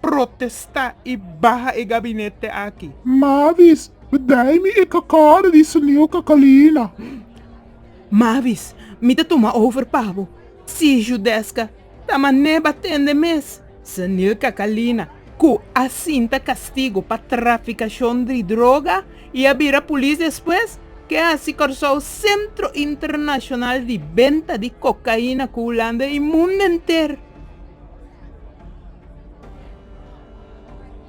protesta y baha e gabinete aki. Mavis, Bdai mi e cacada di snieuw Cacalina. Mavis, Mi ta tuma over pa bo. Si Judesca ta mane ba tende mes. Snieuw Cacalina, cu a sinta castigo pa traficacion di droga y a bira polis despues, ke haci Corsou centro internacional di benta di cocaina cu Hulanda y mundo enter.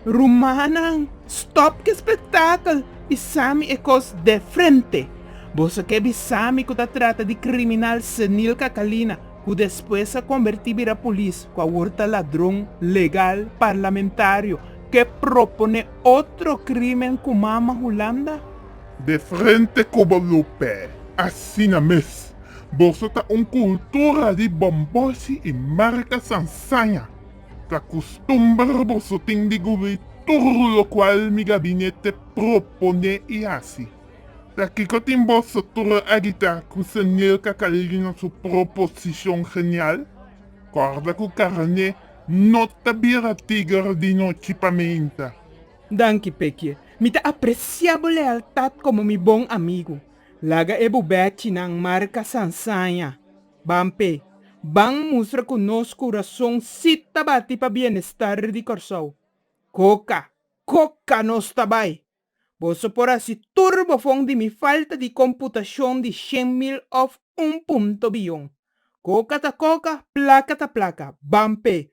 Rumannan, stòp ki spektakel i sa mi e kos de frente! Boso ke bisa mi ku ta trata di kriminal senil Kakalina ku despues a kombertí bira polis, ku awor ta ladron legal parlamentario ke proponé otro krímen ku mama Hulanda? De frente kobo lo p'e, asina mes! Boso ta un kultura di bomboshi i marka sansaña. Ta kustumber boso tin di gubri tur lokual mi gabinete proponé i hasi. Ta kiko tin boso tur a gitá ku Senel Kakalina su proposishon genial? Kòrda ku karné no ta bira tiger di nochi paminta. Danki, Pekie. Mi ta apresiá bo lealtat komo mi bon amigu. Laga e bubèchinan marka sansaña. Ban p'e ban mustra ku nos kurason sí ta bati pa bienestar di Kòrsou. Koka, koka nos ta bai! Boso por hasi tur bo fon di mi falta di komputashon di shen mil òf un punto biyon. Koka ta koka, plaka ta plaka. Ban p'e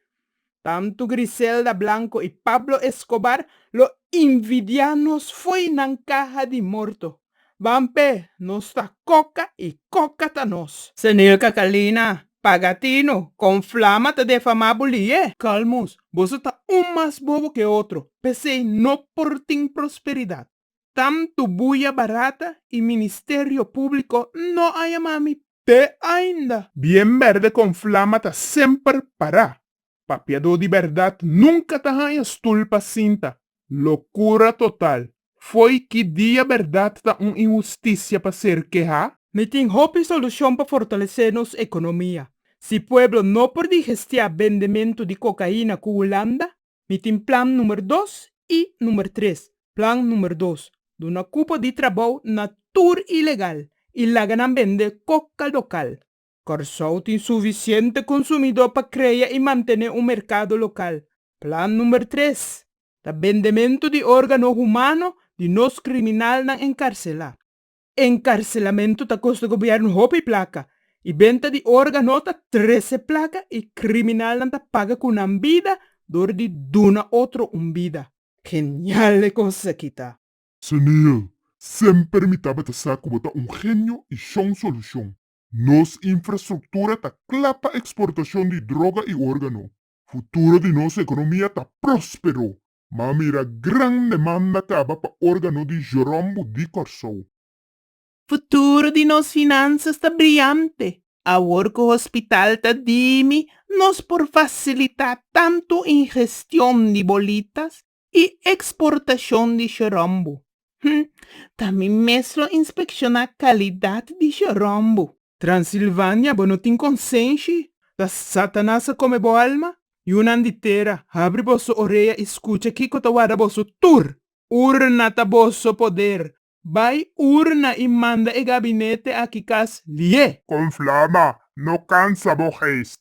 Tantu Griselda Blanco y Pablo Escobar lo invidia nos fo'i nan caha di morto. Ban pe, nos ta coca y coca ta nos. Senil Catalina, Pagatino, con flama ta defama bo li'e? Calmus, boso ta un mas bobo ke otro, pesey no por tin prosperidad. Tantu buya barata y ministerio publico no a yama mi te ainda. Bien berde con flama ta semper para, papiado di berdad nunca ta haya stoel pa sinta, locura total, foy ki dia berdad ta un injusticia pa ser keha? Mi tin hopi solucion pa fortalece nos economia, si pueblo no por di gestia bendemento di cocaina cu Hulanda, Mi tin plan numer dos i numer tres. Plan numer dos, duna cupo di trabou na tur ilegal i laga nan bende coca local. Corsou tin suficiente consumidor pa crea i mantene un mercado local. Plan numer tres, ta bendemento di organo humano di nos criminalnan encarcela. Encarcelamentu ta costa gobierno hopi placa y benta di orga no ta trece placa y criminalnan ta paga cu nan bida door di duna otro un bida. Genial e cosas aki ta. Sunil, semper mi tabata sa cu bo ta un genio y shon solucion. Nos infrastructura ta cla pa exportacion di droga y organo. Futuro di nos economia ta prospero. Ma mira gran demanda kaba pa órgano di Jorombo di Kòrsou. Futuro di nos finansas ta briante. Awor ku hospital ta dimi, nos por fasilitá tantu ingestion di bolitas i eksportashon di Jorombo. Hm, ta mi mes lo inspekshoná kalidat di Jorombo. Transilvania bo no tin konsenshi ta Satanas a kome bo alma? Yunan di tera habri boso orea i skucha kiko ta warda boso tur! Urna ta boso poder! Bai urna i manda e gabinete aki kas lié! Kon flama no kansa bo geest.